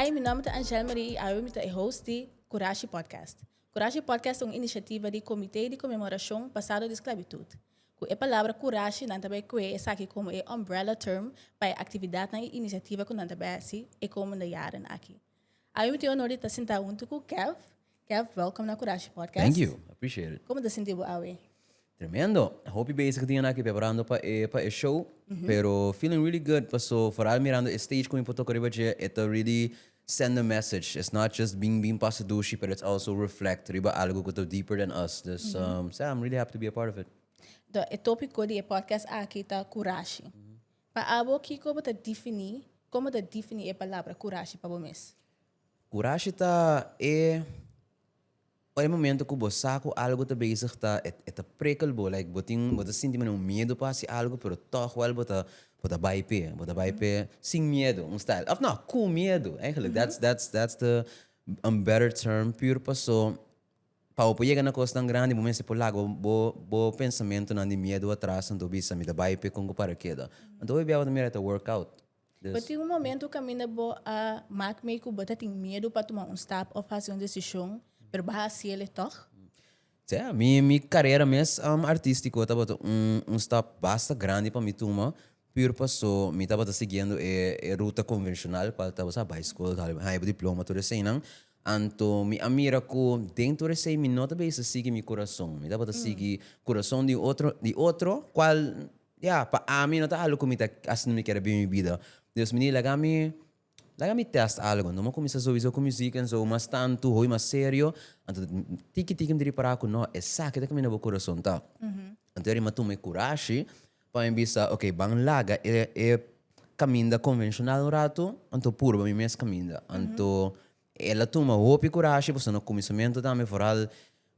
Hi, mi nòmber ta Angèle Marie i awe mi ta e host di Kurashi Podcast. Kurashi Podcast ta un inishativa di Komité di Konmemorashon Pasado di Sklabitut. Ku e palabra kurashi nan ta bai kue esaki komo e umbrella term pa e aktividatnan i inishativa ku nan ta bai hasi e komende yaran aki. Awe mi tin e onor di ta sentá huntu ku Kev. Kev, welkom na Kurashi Podcast. Thank you, I appreciate it. Como ta sinti bo awe? Tremendo. Hopi bezig día naki preparando pa e pa e show, pero feeling really good paso vooral mirando e stage cu mi por toca riba dje e ta really send a message. It's not just bin bin pasa dushi, pero it's also reflect riba algo cu ta deeper than us. Dus um, sea, I'm really happy to be a part of it. Do, e tópico di e podcast aki ta kurashi. Pa abo, kiko bo ta defini, como ta defini e palabra kurashi pa bo mes? Kurashi ta e pa e momento ku bo sa ku algu ta bezig ta e ta prikel bo like bo tin bo ta sinti medio miedu pa hasi algu pero tog wel bo ta bo ta bai p'e bo ta bai p'e sin miedu un style of no ku miedu eigenlijk that's that's that's the un better term pur paso pa bo por yega na kos tan grandi bo mester por laga bo bo pensamentunan di miedu atras anto bo bisa mi ta bai p'e kon ku para keda anto e biaha bo ta mira e ta workout. Bo tin un momentu kaminda bo a mak mee ku bo ta tin miedu pa tuma un stap òf hasi un desishon, pero bo a hasié le tòg? Sea, mi mi karera mes artístiko tabata un un stap basta grandi pa mi tuma pür paso mi tabata siguiendo e e ruta konvenshonal kual ta sa bai skol, haya bo diploma, tur eseinan. Anto mi a mira ku den tur esei mi no ta bisa sigui mi kurason, mi tabata sigui kurason di otro di otro kual Ya, pa ami no ta algu ku mi ta hasi mi kere bin mi bida. Dios mini, laga mi laga mi tèst algu. Anto mi a kuminsá sowizó ku mi sika, so mas tantu, hopi mas serio. Anto tiki tiki mi ta ripará ku no, esaki ta kaminda bo kurason ta. Anto Erima tuma e kurashi pa mi bisa, oke, ban laga e e kaminda konvenshonal un ratu, anto purba mi mes kaminda. Anto el a tuma hopi kurashi, pasobra na kuminsamentu tambe foral.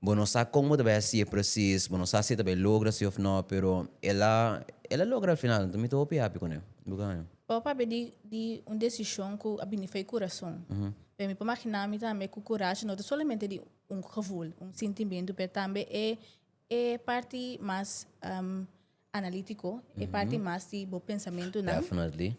Bo no sa kon bo ta bai hacié presis, bo no sa si e ta bai logra si of no, pero el a el a logra al final, enton mi ta hopi hapi con e. Bo ke haña? Bo papia di di un decision cu a bini fai curason. Pero mi por magina mi tambe cu curashi no ta solamente di un gevoel, un sintimentu, pero tambe e e parti mas analítico, e parti mas di bo pensamentunan,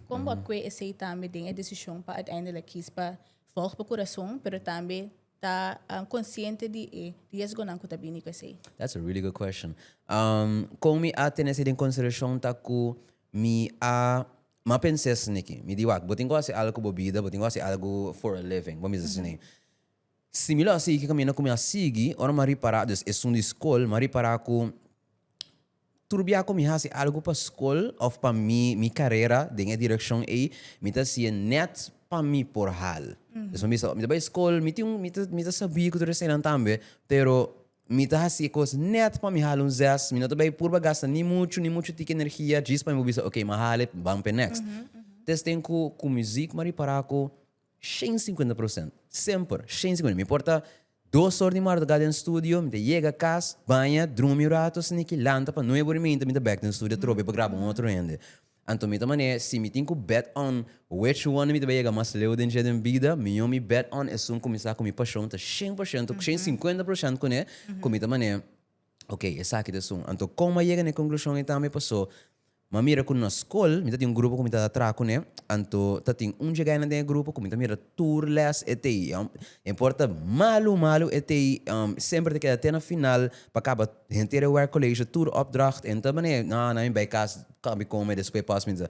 kon bo a kue esei tambe den e desishon pa uiteindelijk kies pa vòlg bo kurason, pero tambe ta konsiente di e riesgonan ku ta bini ku esei? That's a really good question. Um, kon mi a tene esei den konsiderashon ta ku mi a mi a pensé esne'ki. Mi di, wak, bo tin ku hasi algu ku bo bida, bo tin ku hasi algu for a living, bo mester esne'e. Similó así ke kaminda ku mi a sigui ora mi a ripará des esun di skol, mi a ripará ku turbiá ku mi hasi algu pa skol òf pa mi mi karera den e direkshon ei, mi ta hasié nèt pa mi por hal. Pasobra mi sa, mi ta bai skol, mi tin un, mi ta, mi ta sabí ku tur eseinan tambe, pero mi ta hasi e kos nèt pa mi hal un zes, mi no ta bai purba gasta ni muchu, ni muchu tiki energia djis pa mi por bisa, ok, mi a hal e, mi a bam pa e nèkst. Testén ku ku muzik mi a ripará ku. Shen cincuenta procent. Semper, shen cincuenta. Mi por ta dos or di marduga den studio, mi ta yega cas, baña, drumi un rato, sin aki lanta pa nueve or y mienta mi ta bek den studio atrobe pa graba un otro hende. Anto mi ta manera e, si mi tin cu bet on which one mi ta bai yega mas leu den dje den bida, mi yo mi bet on esun cuminsa cu mi pasion ta shen por shento, shen cincuenta por shent cune, cu mi ta manera, ok, esaki ta esun. Anto con mi a yega na e conclusion ei tambe paso, M'a mira ku nos skol mi ta tin un grupo ku mi ta ta traha kuné, anto ta tin un djegainan den e grupo ku mi ta mira tur lès e ta ei, no importa malu malu e ta ei, semper e ta keda te na final pa kaba henter e wèk kolesho, tur opdracht, e no ta manera nò nò mi bai kas kòmi kome despues pòs mi ta sa.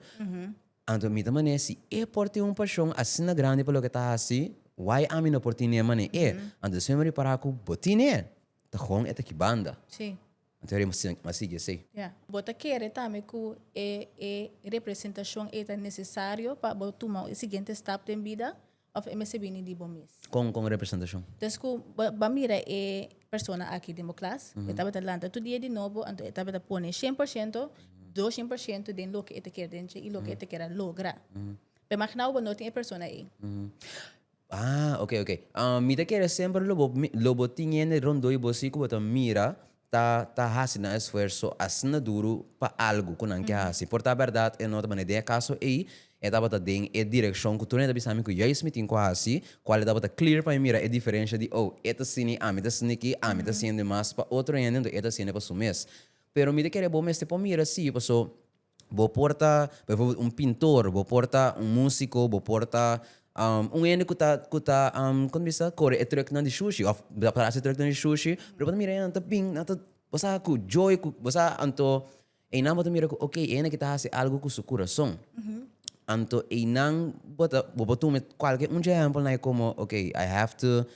Anto mi ta manera si e por tin un pashon asina grandi pa loke e ta hasi, why ami no por tin'é manera e? Anto despues mi a ripará ku bo tin'é, ta hon e ta ki banda. Bo ta kere sin a sigui esei? Ya. Bo ta kere tambe ku e e representashon ei ta nesesario pa bo tuma e siguiente stap den bida òf e mester bini di bo mes? Kon kon representashon? Des ku bo a mira e persona aki den bo klas, e tabata lanta tur dia di nobo, anto e tabata pone shen por shento, doshen por shento den loke e ta kere den dje i loke e ta kere logra. Pero magina bo bo no tin e persona ei. Ah, ok, ok. Ah, mi ta kere semper lo bo, mi- lo bo tin hende rondó di bo así ku bo ta mira ta ta hasi nan esfuerso asina duru pa algu ku nan ke hasi. Por ta bèrdat e no tabata den e kaso ei, e tabata den e direkshon ku tur hende ta bisa mi ku juis mi tin ku hasi, kual e tabata clear pa mi mira e diferensha di, oh, e ta asini, ami ta asini aki, ami ta hasiende mas pa otro hende, anto e ta hasiende pa su mes. Pero mi ta kere bo mester por mira así, paso. Bo por ta, pa eforbel, un pintor, bo por ta un musiko, bo por ta um un hende ku ta ku ta um kon ta bisa kore e trùknan di shushi òf ta kore e trùknan di shushi, pero bo ta mira e nan ta bin, nan ta bo sa ku joy ku bo sa anto einan bo ta mira ku okay e hende aki ta hasi algu ku su kurason. Anto einan bo ta bo por tuma kualke un dje ehèmpelnan ei komo okay I have to.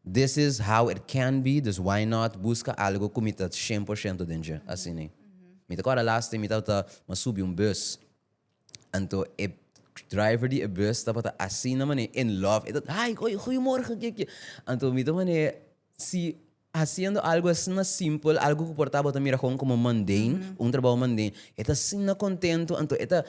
This is how it can be, dus why not buska algo ku mi ta shen por shento den dje. Asini. Mi ta kòrda last time mi tabata mas subi un bus, anto e driver di e bus tabata asina manera in love, e ta hi oi goeiemorgen ke ke. Anto mi ta manera si hasiendo algo asina simpel, algo ku por tabata mira kon komo mundane, un trabou mundane, e ta asina kontento, anto e ta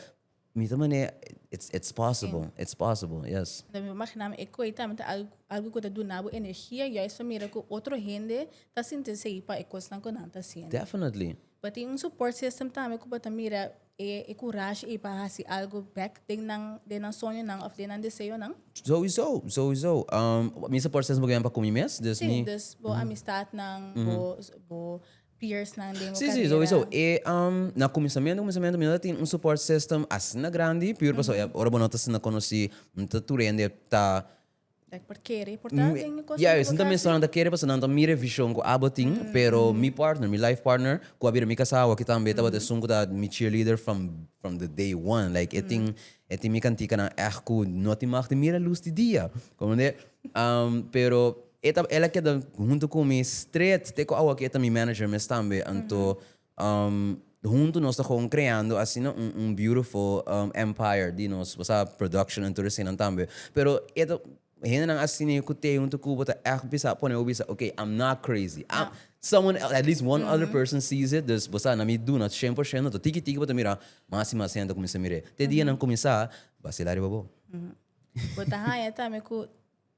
Mita manera it's it's possible it's possible yes. Lo mi por magina mi e koi tambe ta algo algo ku ta duna bo energia juis pa mira ku otro hende ta sinti asei pa e kosnan ku nan ta hasiendo. Definitely. Bo tin un support system tambe ku bo ta mira e e kurashi ei pa hasi algo back den nan den nan soñonan of den nan deseonan? Souiso souiso mi support system ta ku mi mes dus mi. Sí, dus bo amistatnan bo bo peers nan den bo carera? Na cuminsamiento cuminsamiento mi no ta tin un support system asina grandi puur pasobra ora bo no ta asina conoci no ta tur hende ta Dek por kere por ta den e cosnan di bo ta haci? Nan ta kere pasobra nan ta mira e vision cu abo tin pero mi partner mi life partner cu a bira mi casa awor aki tambe tabata esun cu ta mi cheerleader from from the day one like e tin e tin mi kanticanan echt cu no tin mag tin mira luz di dia comprende pero. E ta, el a keda huntu ku mi stret te ku awa ku e ta mi manager mes tambe. Anto huntu nos ta gewoon kreando asina un un beautiful empire di nos bo sa production en tur eseinan tambe. Pero e ta hendenan asina ku te huntu ku bo ta ègt bisa pone bo bisa okay I'm not crazy I'm someone else at least one other person sees it dus bo sa na mi duna shen por shento anto tiki tiki bo ta mira mas i mas hende a kuminsá mir'é. Te dianan kuminsá basela riba bo. Bo ta haña tambe ku.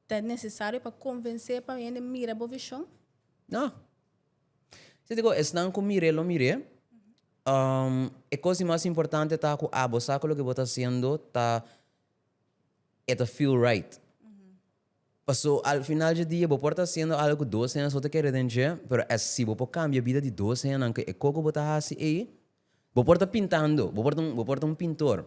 Ta necesario pa convence pa hende mira bo vision? No. Si ta con esnan cu mir'e lo mir'e, e cos di mas importante ta cu abo sa cu loke bo ta haciendo ta e ta feel right. Paso al final dje dia bo por ta haciendo algo cu dos hende so ta kere den dje, pero es si bo por cambia bida di dos hendenan cu e co cu bo ta haci ey, bo por ta pintando, bo por ta un pintor.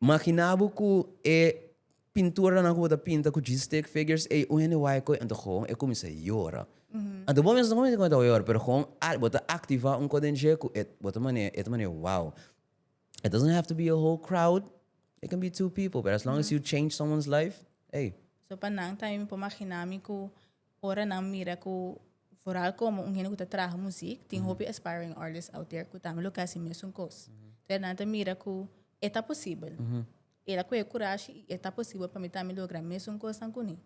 Makina bo ku e pinturanan ku bo ta pinta ku djis stick figures ey un hende wai koe anto gewoon e kuminsá yora. Anto bo mes no kuminsá kume ta yora pero gewoon al bo ta aktivá un koe den dje ku e bo ta manera e ta manera wow. It doesn't have to be a whole crowd it can be two people pero as long as you change someone's life ey. So pa nan tambe mi por makina mi ku. Ora nan mira ku vooral komo un hende ku ta traha muzik tin hopi aspiring artists out there ku tambe lo ke hasi mesun kos. Entonces nan ta mira ku e ta posibel. El a kohe kurashi i e ta posibel pa mi tambe logra mesun kosnan ku ne.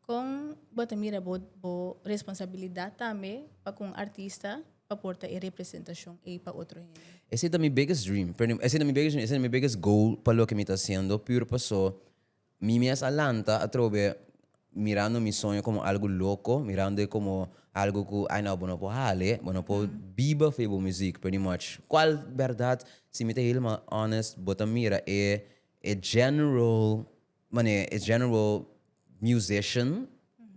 Kon bo ta mira bo bo responsabilidat tambe pa kon artista pa por ta e representashon ei pa otro hende? Esei ta mi biggest dream, perdon, esei ta mi biggest dream, esei ta mi biggest goal pa loke mi ta hasiendo, pur paso Mi mes a lanta atrobe mirando mi soño como algo loco, mirando e como algo cu ay no bo no por hale, bo no por biba for e bo muziek pretty much. Cual berdad? Si mi ta helemaal honest bo ta mira e e general mane e general musician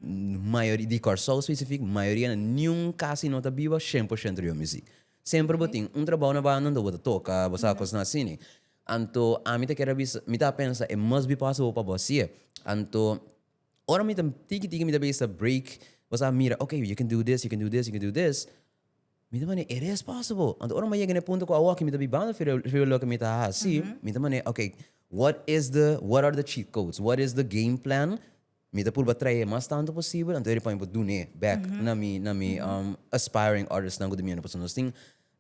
mayoria di Curacao specifiek mayoria nan niun casi no ta biba cien por ciento di bo muziek. Semper bo tin un trabao na banda anto bo ta toka, bo sa kos asini. Anto ami ta kier a bisa, mi ta pensa e mas bi pasa bo pa bo hasi'e. Anto ora mi ta tiki tiki mi ta bay sa break, bo sa mira ok you can do this, you can do this, you can do this, mi ta mane e res pasa bo. Anto ora mi a yega na e punto ku awoki mi ta bay banda fir fir loke mi ta hasi, mi ta mane ok what is the what are the cheat codes, what is the game plan Mi ta purba trae mas tantu posibel, anto eri pone bo dun'é back na mi na mi aspiring artistnan ku ta bini anda pasobra nos tin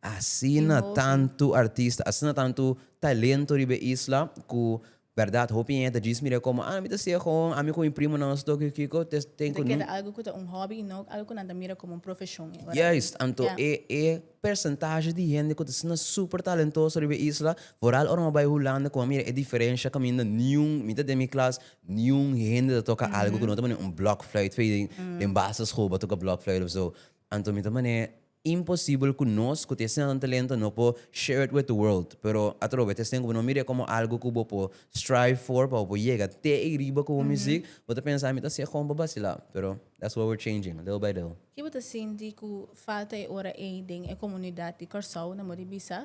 asina tantu artista, asina tantu talento riba e isla ku bèrdat hopi hende ta djis mir'é komo ah mi ta sigue hon, ami ku mi primonan nos ta tok kiko Mi ta keda algu ku ta un hòbi i no algu ku nan ta mira komo un profeshon i ora aki. Juist, anto e e persentashi di hende ku ta asina super talentoso riba e isla, foral ora mi a bai Hulanda ku mi a mira e diferensha kaminda niun, mi ta den mi klas, Niun hende ta toka algu ku no ta manera un blòkfluit fei den den basischool por toka blòkfluit of so. Anto mi ta manera imposibel ku nos ku ta e sinal talento no por share it with the world. Pero atrobe ta esei ku bo no mira e komo algu ku bo por strive for pa bo por yega te ei riba ku bo muzik. Bo ta pensa mi ta hasi e komo pa basila pero that's what we're changing little by little. Ki bo ta sinti ku falta e ora ei den e komunidat di Kòrsou na Mori Bisa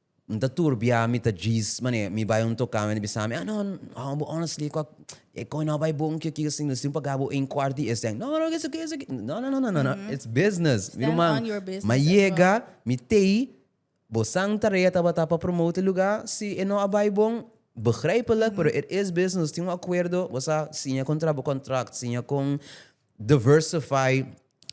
N ta turbia, mi ta djis, mane mi bai un toká, mi bisa ami, ah no, awor bo honestly kua, e koi no a bai bon, kio kio sin no sin paga bo ein kuart di este aña, no no kisa kisa ki, no no no no it's business, mi ruman, ma yega, mi tei, bo san tarea tabata pa promote e lugá, si e no a bai bon, begrèpelijk pero it is business, nos tin un akuerdo, bo sa, siña kontrá bo kontrakt, siña kon. diversify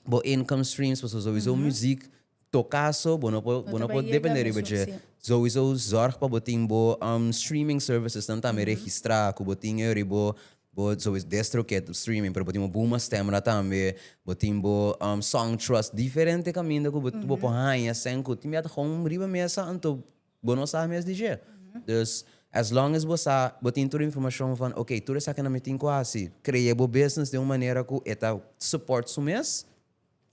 bo income streams pasobra sowiso muziek toka so bo no por bo no por depende riba dje sowiso zorg pa bo tin bo streaming services nan tambe registra ku bo tin yor bo bo sowiso destro ke tu streaming pero bo tin bo buma stemra tambe bo tin bo song trust diferente kaminda ku bo ku bo por haña sèn ku tin biaha ta hom riba mesa anto Bo no sa mes di dje. Dus, as long as bo sa, bo tin tur informashon van ok, tur esaki nan mi tin ku hasi, kree bo business den un manera ku e ta support su mes,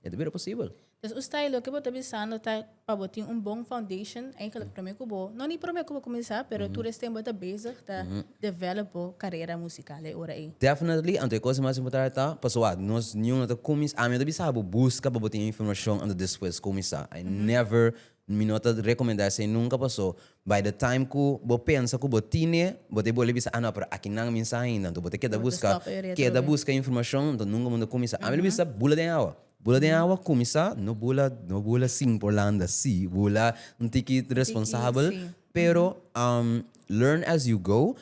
e ta bira posibel. Dus un stay loke bo ta bisando ta pa bo tin un bon foundation eigenlik promé ku bo, no ni promé ku bo kuminsá, pero tur estem bo ta bezig ta develop bo karera musikal e ora ei. Definitely, anto e kos mas importante ta, pasobra nos niño no ta kuminsá, ami no ta bisa bo buska pa bo tin informashon anto despues kuminsá. I never Mi no ta recomenda esey nunca paso by the time cu bo pensa cu bo tine bo ta bolbe bisa ah no pero akinan mi sa ainda enton bo ta keda busca keda busca informacion enton nunca bo ta cuminsa ami lo bisa bula den awa bula den awa cuminsa no bula no bula sin por landa si bula un tiki responsabel pero learn as you go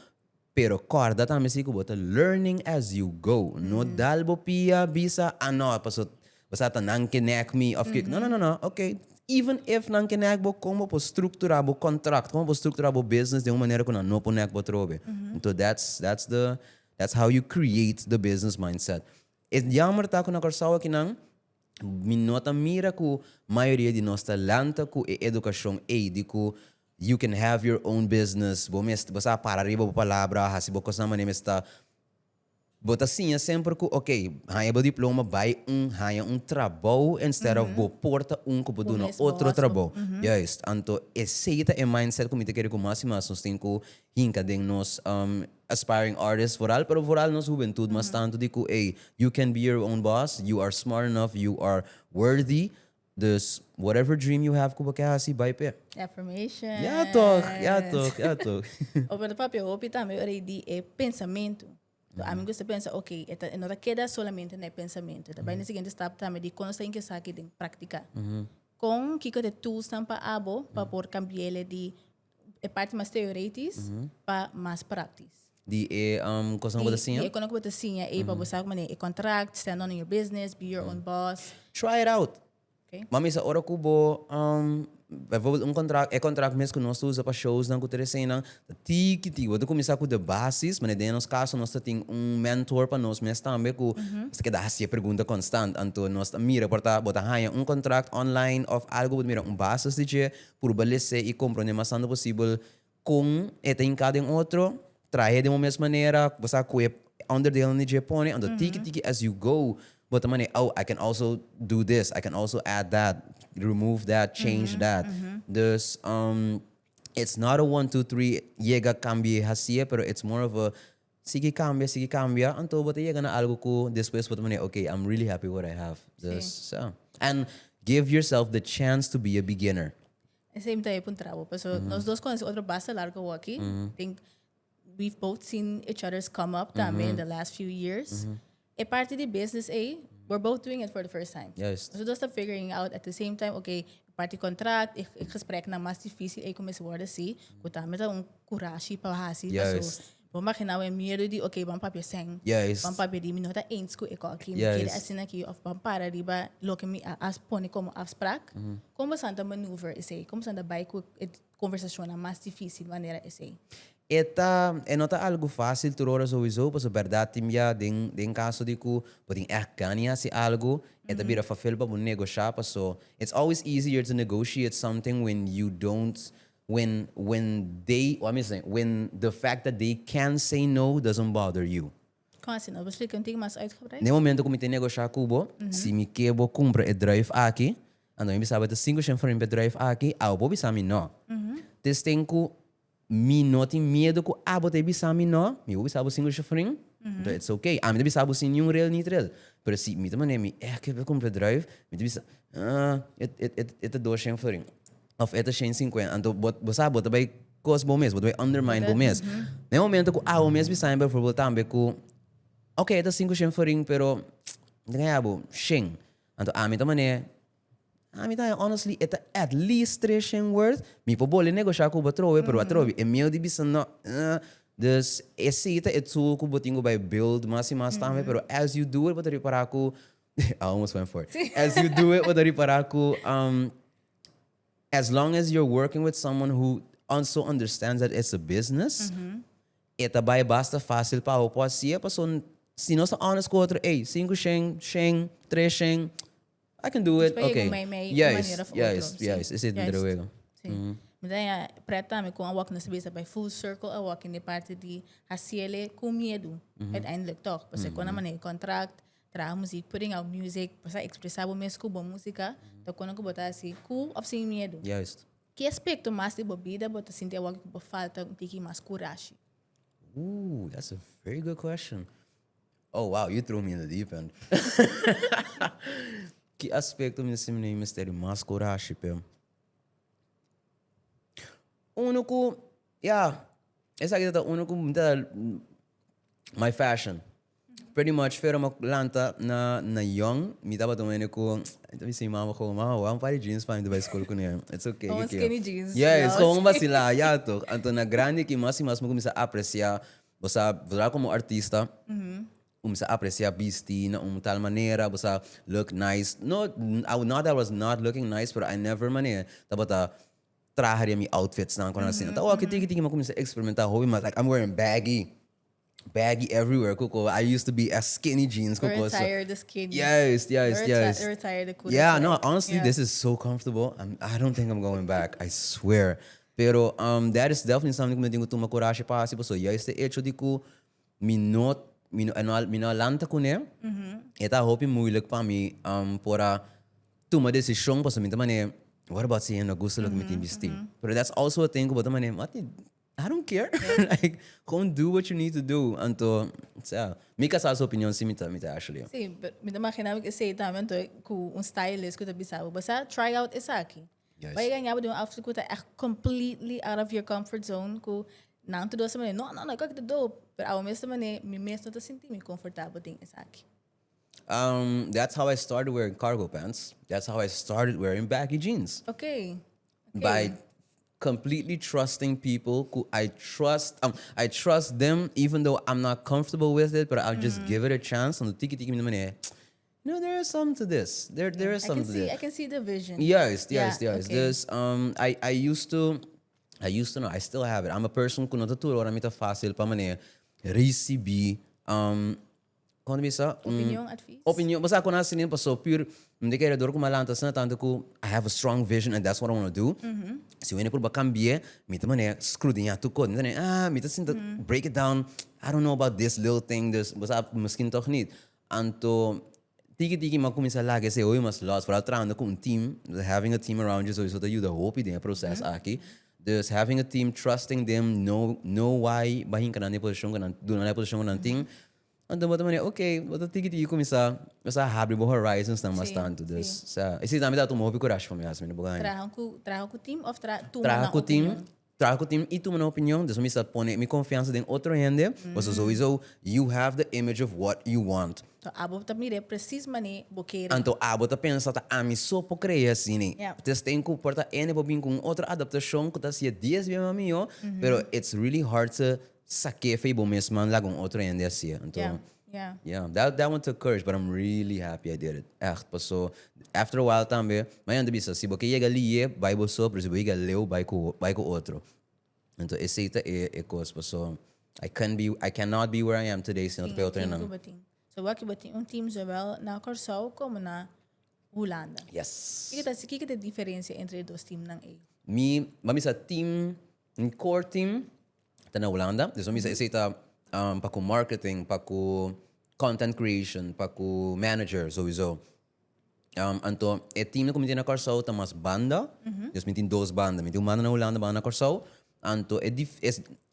Pero corda tambe si cu bo ta learning as you go. No dal bo pia bisa, ah no, paso basa ta nan kenek mi of kiko. No, no, no, no, ok, even if nan kenek bo, con bo por structura bo contract, con bo por structura bo business den un manera cu nan no por nek bo atrobe? Enton that's that's the that's how you create the business mindset. E jammer ta cu na Curaçao aki nan. Mi no ta mira ku mayoria di nos ta lanta ku e edukashon ei di ku you can have your own business, bo mes bo sa para riba bo palabra, hasi bo kosnan manera mes ta. Bo ta siña semper ku ok, haña bo diploma, bai un haña un trabou instead of bo por ta un ku por duna otro trabou. Juist. Anto esei ta e mindset ku mi ta kere ku mas i mas nos tin ku hinka den nos aspiring artists foral pero foral nos hubentud mas tanto di cu ey you can be your own boss, you are smart enough, you are worthy dus whatever dream you have cu bo kier haci bay p'e. Affirmations. Ya toch, ya toch, ya toch. Bo puede papia hopi tambe ora y di e pensamentu. Cu ami gusta pensa ok e ta e no ta keda solamente na e pensamentu e ta bay na e siguiente stap tambe di con nos ta hinca esaki den practica. Con kico ta e toolsnan pa abo pa por cambiele di e parti mas teoretis pa mas praktis. Di e um, kosan ku ta siña? Di e konan ku ta siña ei pa bo sabi kuma e contract, stand on your business, be your own boss. Try it out. Okay. Mami sa ora ku bo um bijvoorbeeld un contract, e contract mes ku nos ta usa pa showsnan ku teresenan, ta tiki tiki. Bo ta kuminsá ku de basis, manera den nos kaso nos ta tin un mentor pa nos mes tambe ku nos ta keda hasi e pregunta konstant. Anto nos ta mira por ta bo ta haña un contract online òf algu, bo ta mira un basis di dje, purba lese i komprondé mas tantu posibel kon e ta hinká den otro, trahe den un mes manera, bo sa ku e onderdelen di dje pone, anto tiki tiki as you go bo ta manera, oh, I can also do this, I can also add that, remove that, change that. Dus, it's not a one, two, three, yega, kambie, hasié, pero it's more of a Sigui cambia, sigui cambia, anto bo ta yega na algo cu despues bo ta mane, ok, I'm really happy what I have. Dus sa. And give yourself the chance to be a beginner. Esei mi ta wei puntra bo, paso nos dos conoce otro basta largo awor aki. I think we've both seen each other's come up tambe in the last few years. E parti di business ei, we're both doing it for the first time. Juist. Nos dos ta figuring out at the same time, okay, parti contract, e, e gespreknan mas difícil ei ku mester wòrdu así, ku ta mester un kurashi pa hasi. Paso, Juist. bo magina awor e miedu di, okay, ban papia esei, Juist. ban papia di mi no ta eens ku e kò akí, mi Juist. kere asina akí, òf ban para riba loke mi a, a pone komo afsprak. Kon bosan ta maneuver esei? Kon bosan ta bai ku e? conversacionnan mas dificil manera esey. E ta, e no ta algo facil tur ora sowiso, pasobra berdad tin bia den, den caso di cu bo tin echt gana di haci algo, e ta bira fafel pa bo negosha, paso it's always easier to negotiate something when you don't, when, when they, wha mi a say, when the fact that they can say no doesn't bother you. Kon asina? Lo splica un tin mas uitgebreid. Na e momento cu mi ta negosha cu bo, si mi ke bo cumpra e druif aki, anto mi bisa bo e ta cinco cent for mi pa e druif aki, awe bo bisa mi no. Te sten cu mi no tin miedo cu abo ta e bisa mi no, mi bo bisa bo cinco cent for, anto ets ok. Ami ta bisa bo sin niun rel ni trel. Pero si mi ta manera mi eke pa cumpra e druif, mi ta bisa, ah, e ta dos cent for. of e ta shen sinkuen anto bo bo sa bo ta bai kos bo mes bo ta bai undermine bo mes na e momento ku awo mes mi sabe beforbel tambe ku oke e ta sinku shen farin pero mi ta kaña bo shen anto ami ta mane ami ta haña honestly e ta at least tres shen worth mi por bole negosha ku bo atrobe pero atrobe e meo di bisa no dus esi ta e tool ku bo tin ku bai build mas i mas tambe pero as you do it bo ta ripara ku I almost went for it as you do it bo ta ripara ku. as long as you're working with someone who also understands that it's a business, mm-hmm. e ta bai basta fácil pa o pode sia, paso si nós tá honest com outro, ei, cinco shen, shen, três shen, I can do it, ok. Mei, mei, yes, yes, yes, yes, esse é o drewego. Sim. Mm -hmm. Então, é, preta, me com a walk na cabeça, vai full circle a walk, na parte de, a ciele com medo, mm -hmm. uiteindelijk toch, porque mm -hmm. quando a maneira contract, Traha muzik, putting out music, pa sa expresa bo mes ku bon musika, ta kona ku bo ta hasi ku of sin miedu. Juist. Ki aspekto mas di bo bida bo ta sinti awoki ku bo falta un tiki mas kurashi? Ooh, that's a very good question. Oh, wow, you threw me in the deep end. Ki aspekto mi ta sinti mi mester di mas kurashi p'e? Unu ku, ya, esaki tabata unu ku mi ta, my fashion. Pretty much Fero mo lanta na na yon mi tabata un hende ku ta bisa mi mama komo mama wou un par di jeans pa mi ta bai skol kuné it's ok Komo un skinny jeans ya es komo un basila ya toh anto na grandi aki mas i mas mi kuminsá apresia bo sa bo traha komo artista kuminsá apresia bisti na un tal manera bo sa look nice no I not that I was not looking nice pero I never manera tabata traha riba mi outfits nan kunan asina ta oki tiki tiki mi a kuminsá eksperimentá hopi mas like I'm wearing baggy. baggy everywhere cu co. I used to be as skinny jeans cu co. So, Retired the skinny. juist, juist, Reti- juist. Retired the kuda Yeah, no, sweat. honestly, Yeah. this is so comfortable. I'm, I don't think I'm going back. I swear. Pero um, that is definitely something cu mi tin cu tuma curashi pa haci, pasobra juist e hecho di cu mi no, mi no, no a- mi no a lanta cune, e ta hopi moeilijk pa mi um por a tuma decision, pasobra mi ta mane, what about si hen no gusta loke mi tin bisti? Pero that's also a thing cu bo ta mane, mati. I don't care like gewoon do what you need to do anto sea mi ka sa su opinion si mi ta mi ta Ashley. Sí, pero mi ta magina bo cu esey tambe anto cu un stylist cu ta bisa bo basa try out esaki. Yes. Bay a gana bo di un outfit cu ta echt completely out of your comfort zone cu nan ta dosa manera no no no e coki ta dope pero awor mes ta manera mi mes no ta sinti mi confortabel den esaki. Um that's how I started wearing cargo pants, that's how I started wearing baggy jeans. Okay. by completely trusting people cu I trust um, I trust them even though I'm not comfortable with it, but I'll just give it a chance. Ando tiki tiki mi na manera. You know, there is something to this. There, there is I can something to see, this. I can see the vision. Juist, Ja, juist, juist. oké. Dus um, I, I used to, I used to know, I still have it. I'm a person cu no ta tur ora mi ta fácil pa manera recibi um, Kon mi sa un Opinion, advies. opinion, bo sa kon hasi niño paso pur un di keredur ku mi a lanta asina tantu ku I have a strong vision and that's what I wanna do. Si wen a purba kambi'e mi ta mane skrudiña tur kos, mi ta mane ah mi ta sinti break it down, I don't know about this little thing dus bo sa miskin tog nit. Anto tiki tiki mi a kuminsá laga ese hoyu mas lòs, foral trahando ku un team, having a team around you sowieso ta yuda hopi den e proces aki. Dus having a team, trusting them, no no why ba hinka nan den posishon ku nan duna nan e posishon ku nan tin, anto bo ta manera ok, bo ta tiki tiki kuminsá kuminsá habri bo horizonsnan mas Sí, tantu. sí. Dus sa i si tambe ta tuma hopi kurashi pa mi hasi mi no por haña. Traha ku traha ku team of tra tuma Traha nan ku team, opinion? traha ku team i tuma nan opinion, dus mi sa pone mi konfiansa den otro hende, pasobra souiso you have the image of what you want. Anto abo ta mire presis mane bo kere. Anto abo ta pensa ta ami so por kree asini. T es tin ku por ta N por bin ku un otro adaptashon ku ta si'e dies bia mas mihó, pero it's really hard to sa ke fe bo mesman laga un otro hende hasi'e. Anto, yeah, that that one took courage, but I'm really happy I did it. Ègt pasó. After a while tambe, mi a yanda bisa, si bo ke yega li'é, bai bo so, pero si bo yega leu, bai ku bai ku otro. Enton esey ta e e cos paso I can be I can not be where I am today si no ta pa e otro nan. So wak bo tin un team zowel na Corsou como na Hulanda. Yes. Kiko ta kiko ta e diferencia entre e dos team nan ey? Mi ma bisa team mi core team ta na Hulanda esun bisa esey ta pa ku marketing pa ku content creation pa ku manager souizo. Anto e timnan ku mi tin na Kòrsou ta mas banda. Djos mi tin dos banda. Mi tin un banda na Hulanda, un banda na Kòrsou. Anto e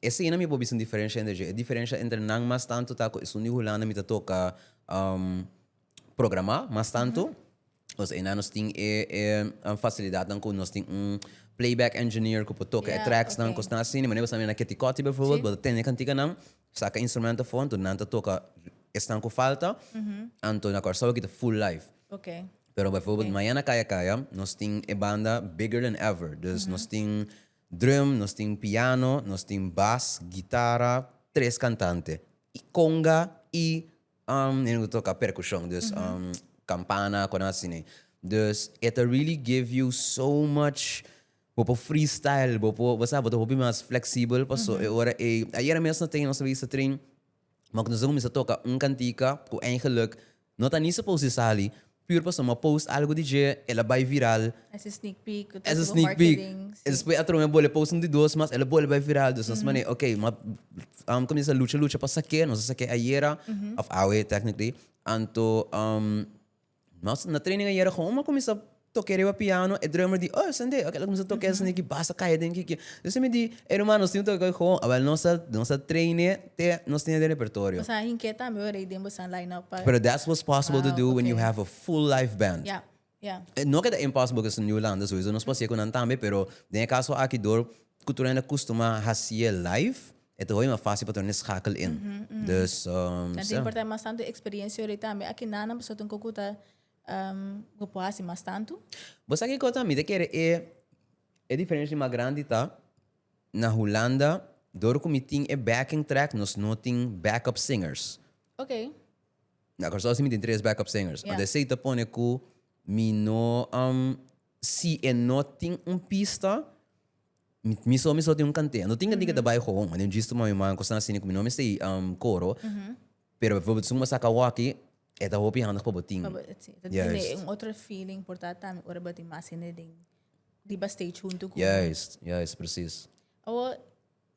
eseinan mi a por bisa un diferensha entre dje. E diferensha entre nan mas tantu ta ku esun di Hulanda mi ta toka programá mas tantu. Kos einan nos tin e fasilidatnan ku nos tin un playback engineer ku por toka e tracks nan, kosnan asina. Manera ku bo sabi na Ketikòti, befòrbuèlt, bo ta tende kantikanan. Saka instrumento for anto nan ta toka esnan ku falta anto na Kòrsou aki ta full live. Okay. Pero bijvoorbeeld mañana kaya kaya nos tin e banda bigger than ever dus nos tin drum, nos tin piano, nos tin bas, gitara, tres kantante i konga i e ku toka perkushon dus kampana konan asina. Dus e ta really give you so much. Bo por freestyle, bo por, bo sa, bo ta hopi mas fleksibel, paso e ora ei, ayera mes no tengo nos a bisa trin, ma ku nos a kuminsá toka un kantika ku eingeluk no ta ni supos di sali, pur paso mi a post algu di dje, el a bai viral, Es e sneak peek, ku ta es e tudu sneak peek, marketing, si. despues atrobe mi a bole post un di dos mas, el a bole bai viral, dus nos manera, ok, mi a kuminsá lucha lucha pa sak'é, nos a sak'é ayera, òf awe technically, anto Nos na training ayera con un a cuminsa toke riba piano e drummer di oh sende oke lo cuminsa toke sende ki bas a caya den ki kier entonces mi di e ruman nos tin toke con e hoon awel nos a nos a traine te nos tin den repertorio. Bosa hinke tambe ora y den bosa line up pa. Pero that's what's possible to do when you have a full live band. Ya ya. No ke ta impossible cu New Holanda soyso nos por haci'e cu nan tambe pero den e caso aki door cultura hende a custuma haci'e live E ta hopi mas fácil pa torné schakel in. Dus Kan ta importá mas tantu experiencia hopi tambe aki nanan pasobra ta un koko ku ta bo por hasi mas tantu. Bo sa kiko tambe mi ta kere e e diferencia mas grandi ta na Hulanda dor ku mi tin e backing track nos no tin backup singers. Oké. Na Kòrsou si mi tin tres backup singers. Ora esei ta pone ku mi no si e no tin un pista Mi so mi so tin un kantea. No tin kende ta bai hoon, ma den djis tu mami manco san asina cu mi no mester y coro. Pero bijvoorbeeld si un a saca hockey, e ta hopi handig pa bo tin. Pa bo, sí. Ta Juist. tende un otro feeling por ta tambe ora bo tin mas hende den, riba stage hunto cu bo. Juist, juist, precies. Awor,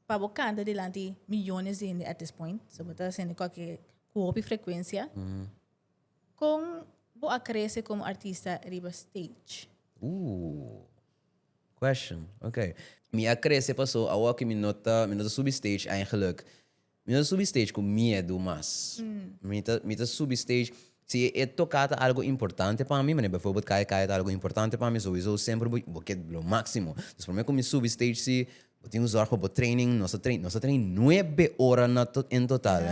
pa bo canta dilanti millones di hende at this point, so bo ta hacendo cualkier, cu hopi frecuencia, con bo a crece como artista riba stage? Ooh. Question, Ok, mi a crece paso awo cu mi no ta mi no ta subi stage eigenlijk mi no ta subi stage cu miedu mas. Mi ta mi ta subi stage si e toca ta algo importante pa mi, manera bijvoorbeeld caya caya ta algo importante pa mi sowiso semper bo bo kier lo maximo. Dus prome cu mi subi stage si bo tin un zorg pa bo training nos ta train nos ta train nuebe ora na to en total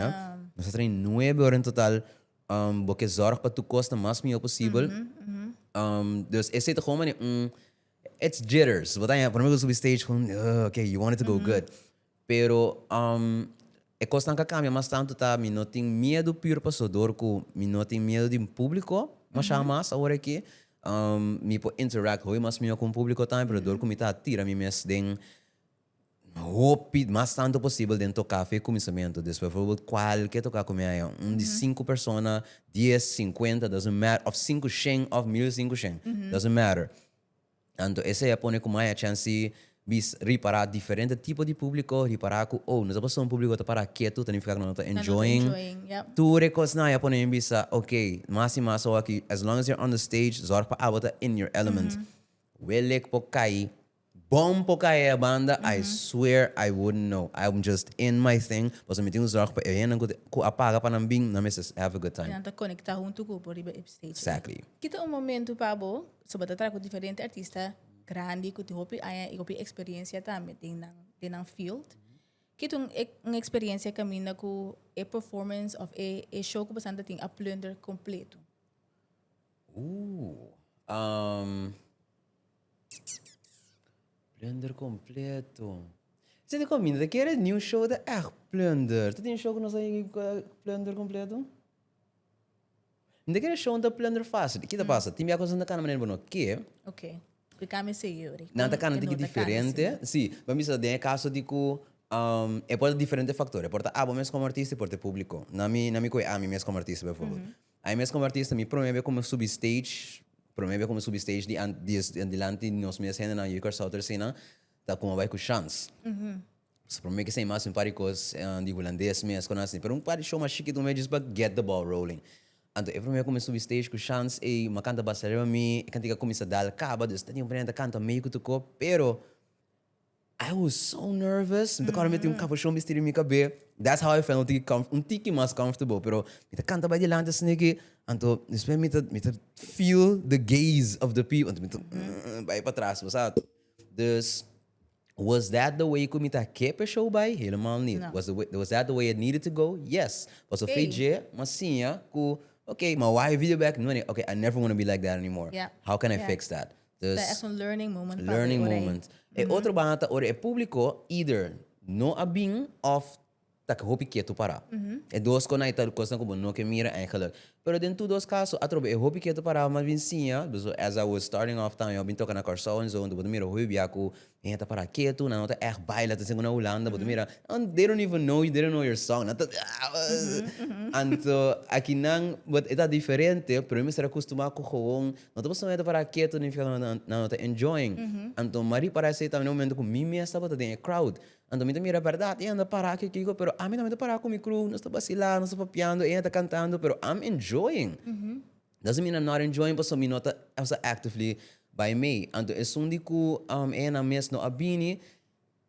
nos ta train nuebe ora en total Bo ke zorg pa tur kos ta mas mihó posibel. Dus esei ta komo manera un, it's jitters. Bo ta hèn, promé ku bo subi stage kon, uh, ok, you want it to go good. Pero e kosnan ka kambia mas tantu ta mi no tin miedu pür pasobra ku mi no tin miedu di un públiko mashá mas awor aki. Mi por interact hopi mas mihó ku un públiko tambe pasobra mi ta tira mi mes den. Hopi, mas tantu posibel den toká fe kuminsamentu. Despues forbl kual ke toká kumiá ea? Un di sinku persona, dies, sinkuenta, doesn't matter, òf sinku shen òf mil sinku shen, doesn't matter. Anto esei a pone ku mai a chansi bis ripará diferente tipo di públiko, ripará ku, oh, nos ta pasá un públiko ku ta pará ketu, ta nifiká ku nan no ta enjoying. Tur e kosnan a pone mi bisa, okey, mas i mas awor aki, as long as you're on the stage, zòrg pa abo ta in your element. Wele ku por kai Bon por cahe e banda I swear I wouldn't know I am just in my thing pasobra mi tin un zorg pa e hende cu cu a paga pa nan bin nan mester have a good time. Nan ta conecta hunto cu bo riba e stage ey. Exactly. Kita un momento pa bo so bo ta traha cu diferente artista grandi cu tin hopi aña y hopi experiencia tambe den nan den nan field ki ta un experiencia caminda cu e performance of e e show cu boso ta tin a plunder completo. Ooh um. Plunder completo. Ze di comida te kere new show ta echt plunder. Te tin show ku nos plunder completo? Nte kere show ta plunder fácil. Ki ta pasa? Tin bia cosas nta kana manera bo no ke. Ok. Di cami segui ori. Nan ta kana tiki diferente. Sí. Bo bisa den e caso di ku um e por ta diferente factor. E por ta abo mes como artista, e por ta e publico. Na mi, na mi cu e ami mes como artista, bijvoorbeeld. Ai mes como artista mi prome be como subi stage prome be como subi stage di an di es dilanti di nos mes hendenan yu Curaçao Terceinan ta como bai cu chans so prome kies ta himasi un par di cos di hulandes mes con asi pero un par di show mas shikito mes just pa get the ball rolling anto e prome como subi stage cu chans ey mi a canta basta riba mi e cantica a cuminsa dal caba dus ta tin un prende ta canta medio cu tocó pero. I was so nervous, mi ta kòrda mi a tin un kaposhon bisti riba mi kabé, that's how I felt un tiki comf un tiki mas comfortable, pero mi ta kanta bai dilanti asina ke, anto despues mi ta mi ta feel the gaze of the people, anto mi ta bai patras, pasado. Dus was that the way ku mi ta ke pa e show bai? Helemal ni. No. Was the way was that the way it needed to go? Yes, pasobra Ey. fe'e dje m'a siña ku, okay, m'a waha e video back, no an'e, okay, I never wanna be like that anymore. Yeah. How can I Yeah. fix that? Ta es un learning moment pa lei ora ei. E otro baha ta ora e publico either no a bin of ta hopi ketu para. E dos conai ta cosnan cu bo no ke mira eigenlijk. Pero den tur dos caso atrobe e hopi ketu para mas bin siña, duos as I was starting off tan yo a bin toca na Curaçao en zo, entonces bo ta mira hopi bia cu Mi a ta para ketu, nan no ta ègt baila, ta singu na Hulanda bo ta mira, they don't even know you, they don't know your song, nan ta ah. Anto aki nan e ta diferente, pero mi mester a kustumá ku gewoon no ta pasobra mi a ta para ketu nignifiká ku nan no ta enjoying. Anto Marie para esei tambe na e momentu ku mi mes tabata den e crowd. Anto mi ta mira, bèrdat e anda pará aki, kiko, pero ami tambe ta pará ku mi crew, nos ta basilá, nos ta papiando, e a ta kantando pero am enjoying. Nos a mina not enjoying pasobra mi no ta also actively bay mey. Anto esun di cu eyenan mes no a bini,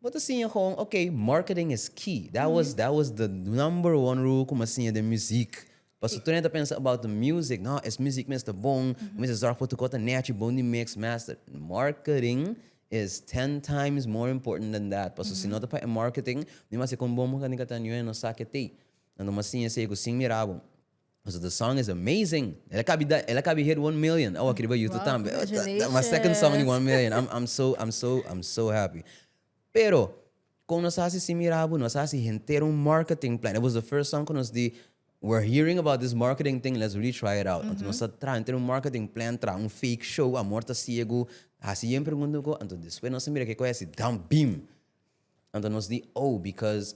bo ta siña gewoon, ok, marketing is key. That was that was the number one rule cu mi a siña den muziek. Pasobra tur e nan ta pensa about the music, no, es muziek mes ta bon, bo mes a zorg pa tur cor ta nechi bon di mix master. Marketing is ten times more important than that. Pasobra si no ta pa e marketing, mi mas si con bon bo kandika ta enjoy, no sa ke t'ey. Anto mi a siña esey cu sin mira bo. Nos otro song is amazing. El a kabi da el a kabi hit one million awa aki riba YouTube tambe. Congratulations. My second song di one million. I'm I'm so I'm so I'm so happy. Pero kon nos a hasi si mirabu nos a hasi henter un marketing plan. It was the first song ku nos di we're hearing about this marketing thing let's really try it out. Anto nos a traha henter un marketing plan traha un fake show Amor ta Ciego hasi yen pregunta ku anto despues nos a mira ke koe hasi damn beam. Anto nos di oh because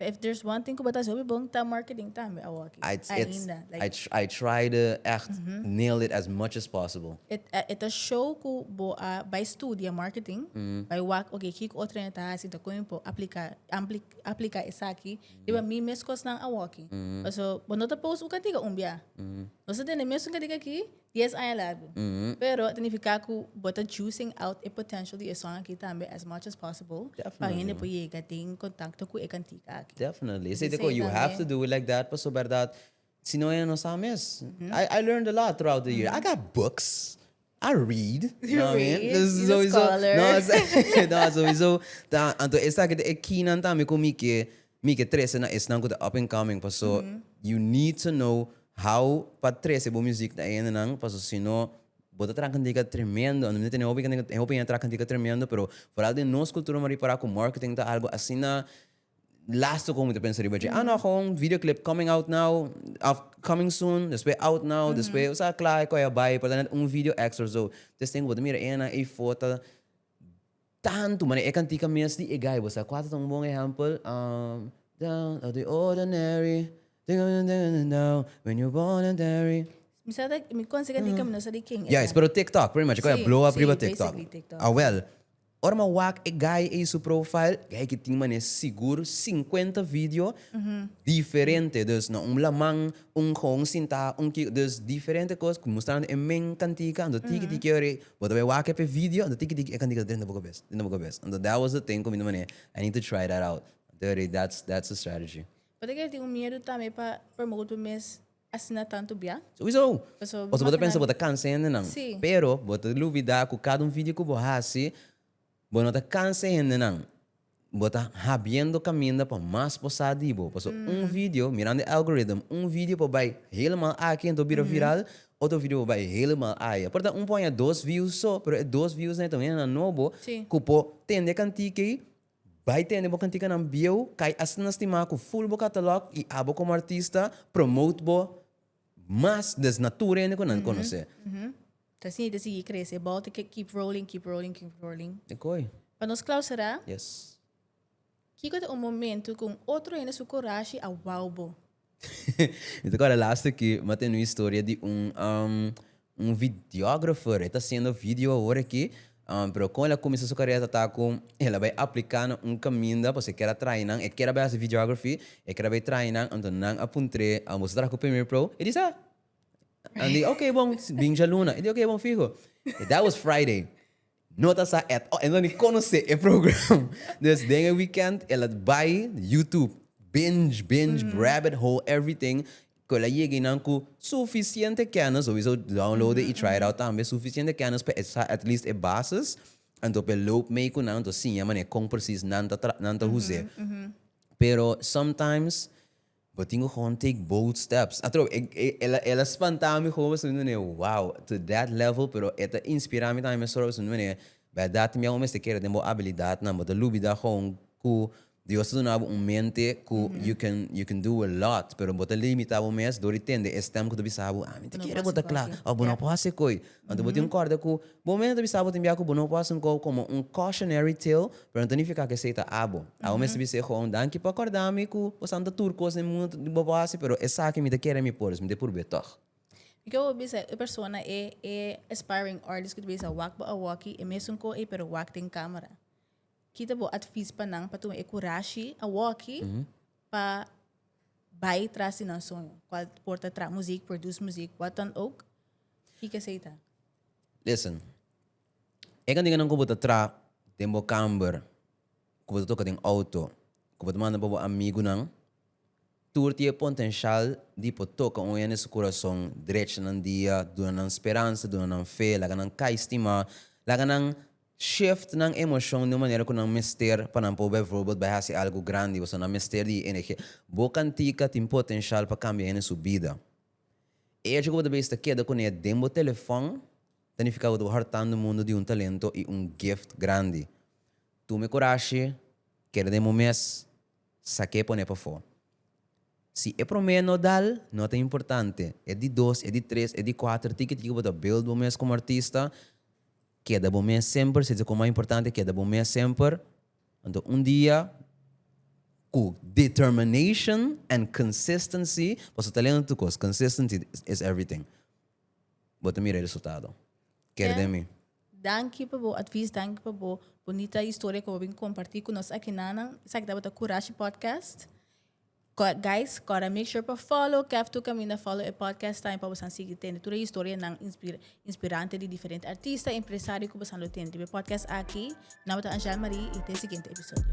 If there's one thing cu bo ta haci hopi bon ta marketing tambe awoki, ainda. I it's I I try to echt nail it as much as possible. E ta show cu bo a bay studia marketing, bay wak oke kico otro hende ta haci, entonces con mi por aplica aplica esaki riba mi mes cosnan awoki. Pasobra bo no ta post un cadiga un bia. Nos ta tene mes un cadiga aki. Dies aña largu. Pero ta nifiká ku bo ta juicing out e potential di esun akí tambe as much as possible pa Definitely. hende por yega den kontakto ku e kantika akí. Definitely. Esei ta Esei kos, you have tambe. to do it like that paso bèrdat si no hende no sa mes. I I learned a lot throughout the year. I got books, I read, You know what I mean? read, Dus you's a sowieso, scholar. no, sowieso ta, anto esaki ta e keynan tambe ku mi ke Mi ke trese na esnan ku ta up and coming paso you need to know how pa trese bo muzik na e hendenan paso si no bo ta traha kantika tremendo ando mi ta tene hopi kantika e hopi hende ta traha kantika tremendo pero foral den nos kultura mi a ripará ku marketing ta algu asina lástiku ku mi ta pensa riba dje a no aho un video clip coming out now of coming soon despues out now despues o sea kla e kòi a bai por ta nèt un video extra so entonces tin ku bo ta mira e hendenan ey for ta Tantu, mane e kantika mes di e gai, bo sa kua ta un bon ehèmpel? I'm down of the ordinary, dingedeng dingedeng down, when you born and tarry. Mi sa ta, mi konshe kantika, mi no sa di ken era. Yes, pero TikTok, pretty much, e kua a blow up riba TikTok. Si, si, basically TikTok, si. Awèl, ora mi a wak e gai ei su profile, gai aki tin mane sigur sinkuenta video diferente, dus na un laman, un gou, un sintá, un ki, dus diferente kos, mustrando e men kantika, anto tiki tiki ora ei. Bo ta bay wak ep e video anto tin ki tin e cantiga ta dren den bo cabes den bo cabes anto that was the thing cu mi ta mane I need to try that out anto yo rei that's that's the strategy. Pasobra que el tin un miedu tambe pa promote bo mes asina tanto bia. Sowieso. Pasobra bo Paso bo ta pensa bo ta cansa hende nan. Sí. Pero bo ta lubida cu cada un video cu bo haci. Bo no ta cansa e hendenan. Bo ta habiendo caminda pa mas bo sa di bo. Paso un video, mirando e algorithm, un video por bay helemal aki ento bira viral, otro video por bay helemal aya. Por ta un por haña dos views so, pero e dos views nan e ta un hendenan nobo Sí. cu por tende e cantica ey, bay tende bo canticanan bieuw, cay asta na stima cu full bo catalog y abo como artista promote bo mas des na tur hende cu nan conoce. Ta sini ta sigui crece. E bal ta ke keep rolling, keep rolling, keep rolling. E koi. Pa nos clausera. Yes. Kiko ta un momento cu un otro hende su corashi a wou bo? Mi ta cuada laster ki mi tene un historia di un un videographer. E ta haciendo video awor aki. Pero con el a cuminsa su carera tata cu el a bay aplica na un caminda pasobra e kier a traha nan. E kier a bay haci videography, e kier a bay traha nan. Anto nan a puntre, Boso a traha cu primer pro? E di sa. An di, ok bon, bin djaluna. E di, ok bon, fiho. That was Friday. No ta sa at all. E no ni konosé e program. Dus den e weekend el a bai YouTube. Binge, binge, rabbit hole, everything. Ku el a yega einan ku sufisiente kènis, o wisou download'e i try it out tambe, sufisiente kènis pa e sa at least e bases. Anto pa e loop mee ku nan, anto siña manera kon presis nan ta tra, nan ta huz'e. Pero sometimes. Bo tin ku kon take bold steps. Atrobe, el a spantá mi hopi pasobra mi ta mira, wow, to that level, pero e ta inspirá mi tambe mesora pasobra mi ta mira, bèrdat también bo mester kere den bo abilidadnan, bo ta lubida kon ku Dios a duna bo un mente ku you can you can do a lot, pero bo ta limitá bo mes dor di tende e stèm ku ta bisa bo, ah, mi ta kere ku bo ta kla, òf bo no por hasi koy. Anto bo tin un kòrda ku bo mes ta bisa abo tin biaha ku bo no por hasi un kou komo un cautionary tale, pero anto nifiká ku esei ta abo. Abo mes ta bisa e joven, Danki pa kòrdá mi ku pasan ta tur kos den mundu ku bo por hasi, pero esaki mi ta kere mi por, dus mi ta purb'é tòg. Dik'é bo bisa e persona, e e aspiring artist ku ta bisa wak bo a wòki, e mesun kou ei pero wak den kámara? Ki ta bo atvis pa nan pa tuma e kurashi a wòki pa bai tras di nan soño? Kual por ta traha muzik, produce muzik, watan ook? Kiko esei ta? Listen, e kantinan ku bo ta traha den bo kamber, ku bo ta toka den outo, ku bo ta manda pa bo amigunan, tur tin e pontenshial di por toka un hende su kurason, drecha nan dia, duna nan speransa, duna nan fe, laga nan kai stima, laga nan shift nan emoshon di un manera ku nan mester pa nan por bijvoorbeeld bai hasi algu grandi. Pasobra nan mester di e energia. Bo kantika tin potenshal pa kambia hende su bida. E echo ku bo ta bista keda ku ne den bo telefòn ta nifiká ku ta bo hòrtando mundu di un talento i un gift grandi. Tuma e kurashi, keda den bo mes, sak'é pon'é pafó. Si e promé no dal, no ta importante, e di dos, e di tres, e di kuater, tiki tiki ku bo ta build bo mes komo artista, keda bo mes semper, si ta kua mas importante keda bo mes semper. Anto un dia ku determination and consistency boso ta lendo tur kos, consistency is everything, bo ta mira e resultado. Ker den mi. Danki pa bo advies, danki pa bo bonita historia ku bo a bin komparti ku nos aki nan. Esaki tabata Kurashi Podcast. Guys kor a make sure pa follow kèf tu kaminda follow e podcast tambe pa bo san sigui tende tur e historianan inspirante di diferente artista empresario ku bo san lo tene riba e podcast aki. Mi nomber ta Angèle Marie i te siguiente episodio.